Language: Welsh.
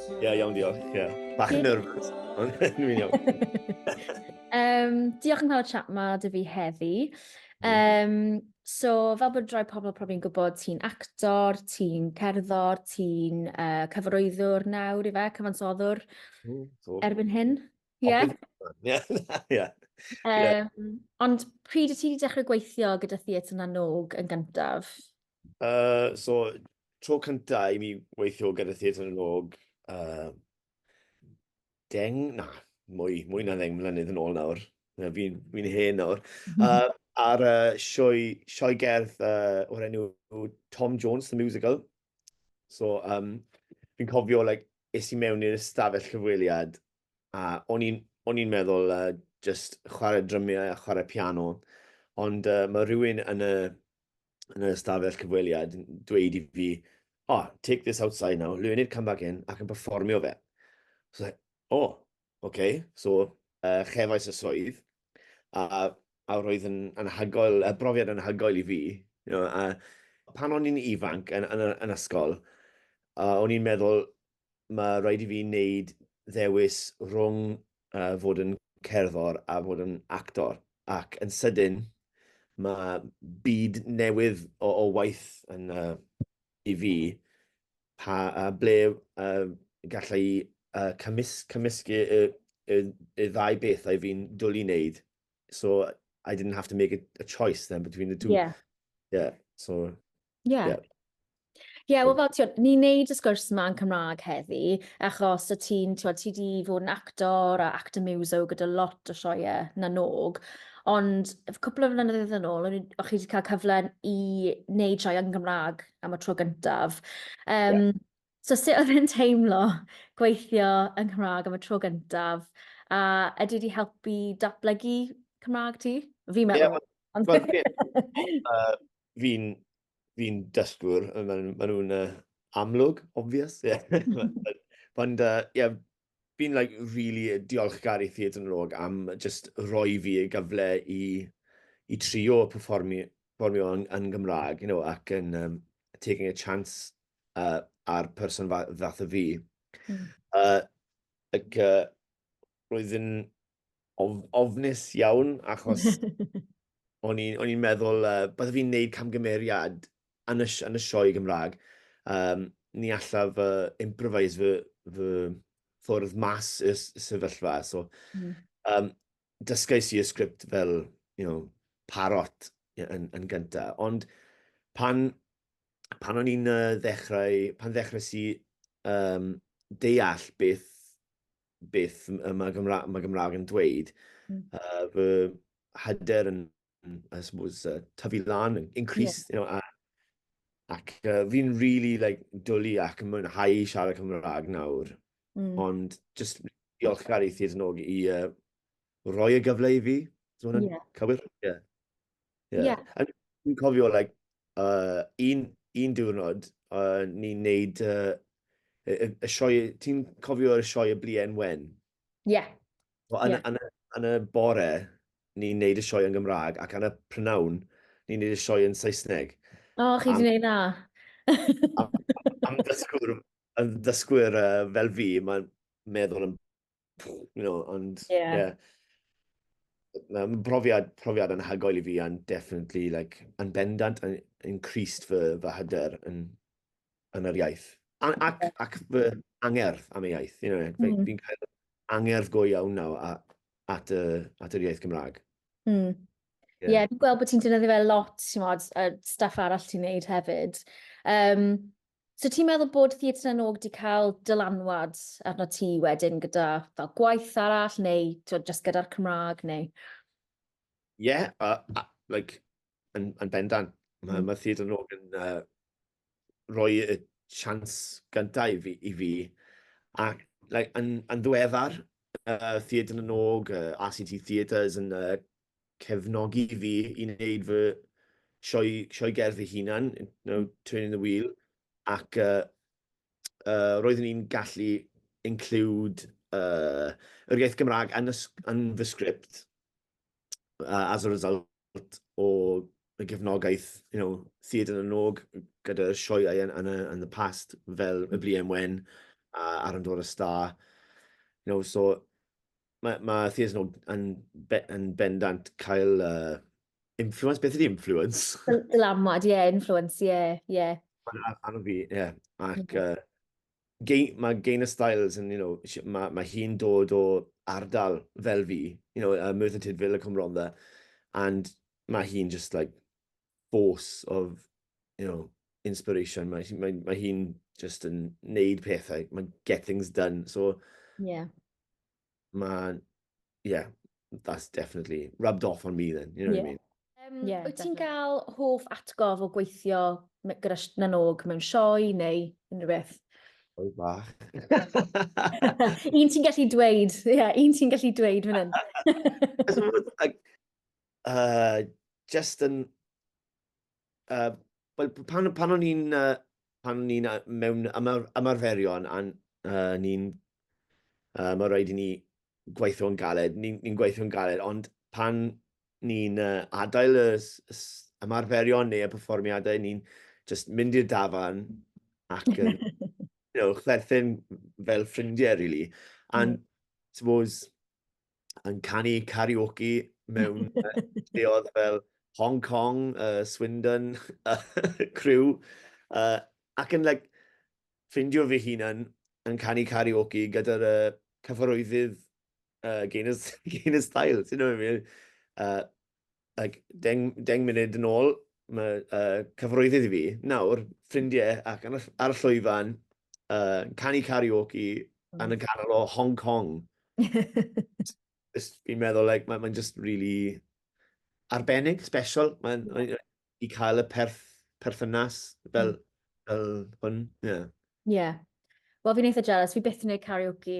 Ie, yeah, iawn, diolch. Ie. Yeah. Bach yn nervous, ond dwi'n iawn. um, diolch yn cael y chat ma dy fi heddi. Um, so, fel bod rhoi pobl profi'n gwybod, ti'n actor, ti'n cerddor, ti'n uh, cyfarwyddwr nawr i fe, cyfansoddwr, mm, so. erbyn hyn. Ie. Yeah. Ie. Um, ond pryd y ti wedi dechrau gweithio gyda Theatr Nanog yn gyntaf? Uh, so, tro cynta i mi weithio gyda Theatr y Log, uh, deng, na, mwy, mwy na ddeng mlynedd yn ôl nawr. Fi'n fi hen nawr. Uh, ar uh, sioe, sioe gerdd uh, o'r enw Tom Jones, The Musical. So, um, fi'n cofio, like, es i mewn i'r ystafell cyfweliad, a o'n i'n meddwl uh, just chwarae drymiau a chwarae piano, ond uh, mae rhywun yn y, yn y stafell cyfweliad yn dweud i fi, oh, take this outside now, learn it, come back in, ac yn performio fe. So, o, oh, okay, so uh, chefais y swydd, a, a roedd yn anhygoel, y brofiad yn anhygoel i fi. You know, a pan o'n i'n ifanc yn, yn, yn ysgol, uh, o'n i'n meddwl, mae rhaid i fi wneud ddewis rhwng uh, fod yn cerddor a fod yn actor. Ac yn sydyn, mae byd newydd o, o waith yn, uh, i fi, pa, uh, ble uh, gallai uh, cymys, cymysgu y, y, y ddau beth a fi'n dwl i wneud. So I didn't have to make a, a choice then between the two. Yeah. Yeah, so... Ie. Yeah. Yeah. Ie, yeah, wel fel ti'n, ni'n neud y sgwrs yma yn Cymraeg heddi, achos y ti'n, ti'n ti di fod yn actor a actor muso gyda lot o sioiau na nog, ond cwpl o flynyddoedd yn ôl, o'ch chi wedi cael cyfle i wneud sioiau yn Gymraeg am y tro gyntaf. Um, yeah. So sut oedd yn teimlo gweithio yn Cymraeg am y tro gyntaf, a ydy wedi helpu datblygu Cymraeg ti? Fi meddwl. Yeah, Ond... Well, uh, fi'n fi dysgwr, maen ma nhw'n uh, amlwg, obvious. Yeah. Ond, uh, yeah, fi'n like, really diolchgar i Theatr yn Log am just roi fi y gyfle i, i trio performi, performio yn, yn Gymraeg, you know, ac yn um, taking a chance uh, ar person fath o fi. Mm. Uh, ac uh, roedd yn of, ofnus iawn, achos o'n i'n meddwl, uh, bydde fi'n neud camgymeriad yn y, yn y sioe Gymraeg. Um, ni allaf fy uh, improvise fy, fy ffwrdd mas y sefyllfa. So, mm. um, dysgais i y sgript fel, you know, parot yn, yn gyntaf. Ond pan, pan o'n i'n uh, ddechrau, pan ddechrau si um, deall beth beth y mae Gymraeg, mae Gymraeg yn dweud. Mm. Uh, fy hyder yn, I suppose, uh, tyfu lan, increase, yeah. you know, a, ac uh, fi'n really like, dwlu ac yn mwynhau i siarad Cymraeg nawr. Mm. Ond just diolch gael ei thyd yn og i uh, roi y gyfle i fi. Dwi'n yeah. cywir? Yeah. Ie. Ie. A fi'n cofio like yy un un diwrnod yy ni'n neud yy y y y sioe ti'n cofio'r sioe y Bluen Wen? Ie. So yn y... Ie. ...yn y yn y bore ni'n neud y sioe yn Gymra'g ac yn y prynawn ni'n neud y sioe yn Saesneg. O chi 'di neud 'na? Am am ddysgwr yym ddysgwyr yy fel fi ma'n meddwl am you know, ond, yeah. yeah. Mae'n brofiad, profiad yn hagoel i fi, and definitely, like, yn bendant, yn increased fy, fy hyder yn, yn yr iaith. A, ac, ac fy angerdd am y iaith, you know, mm. fi'n cael angerdd go iawn nawr at, at, y, at yr iaith Gymraeg. Mm. Ie, yeah. yeah, fi'n gweld bod ti'n dynyddio fe lot, ti'n modd, y staff arall ti'n neud hefyd. Um, So ti'n meddwl bod Theatr na n-Og 'di cael dylanwad arnot ti wedyn gyda fel gwaith arall neu t'mod jyst gyda'r Cymraeg neu? Ie a a like yn yn bendant. Ma' hmm. ma' Theatr na n-Og yn uh, rhoi y chance gyntaf i fi i fi ac like yn yn ddiweddar uh, Theatr na n-Og, uh, RCT Theatres yn uh, cefnogi fi i wneud fy sioe, sioe gerdd fy hunan, you know, turning the wheel, ac uh, uh, roeddwn i'n gallu include uh, yr iaith Gymraeg yn, yn fy sgript uh, as a result o y gefnogaeth, you know, Theatr yn y Nog gyda'r sioeau yn, yn, yn the past fel y Bliem Wen a Aron Dor y Star. You know, so Mae, mae Theatr Nod yn, be, yn bendant cael uh, influence. Beth ydy influence? Dylamwad, ie, yeah, influence, ie, yeah, ie. Yeah. Mae'n anodd fi, ie. Yeah. Ac uh, gei, mae Gain y Styles yn, you know, mae, mae hi'n dod o ardal fel fi, you know, uh, Merthyr Tydfil y Cymronda, and mae hi'n just like, force of, you know, inspiration. Mae, mae, mae hi'n just yn neud pethau. Mae'n get things done. So, yeah. Mae, yeah, that's definitely rubbed off on me then, you know yeah. what I mean? Um, yeah, wyt ti'n cael hoff atgof o gweithio gyda nanog mewn sioe neu unrhyw beth? Oi bach. un ti'n gallu dweud, ie, yeah, un ti'n gallu dweud fan hyn. uh, just yn... Uh, well, pan, pan o'n i'n uh, pan o'n i'n mewn ymar, ymarferion a uh, ni'n uh, mae rhaid i ni gweithio'n galed, ni'n ni, gweithio'n galed, ond pan ni'n uh, adael y, y ymarferion neu y perfformiadau, ni'n just mynd i'r dafan ac yn you know, chwerthin fel ffrindiau, really. And mm. suppose, yn canu karaoke mewn lleoedd fel Hong Kong, uh, Swindon, Crew, uh, ac yn like, ffindio fy hunan yn canu karaoke gyda'r uh, cyfarwyddyd uh, Gaynor, Gaynor Style, ti'n know what I mean? Uh, ac deng, deng munud yn ôl, mae uh, cyfroeddydd i fi, nawr, ffrindiau ac ar, ar y llwyfan, uh, canu karaoke mm. yn y canol o Hong Kong. just fi'n meddwl, like, mae'n ma just really arbennig, special. Mae'n yeah. i cael y perth, perthynas fel, mm. fel hwn. Yeah. yeah. Wel, fi'n eitha jealous. Fi byth yn gwneud karaoke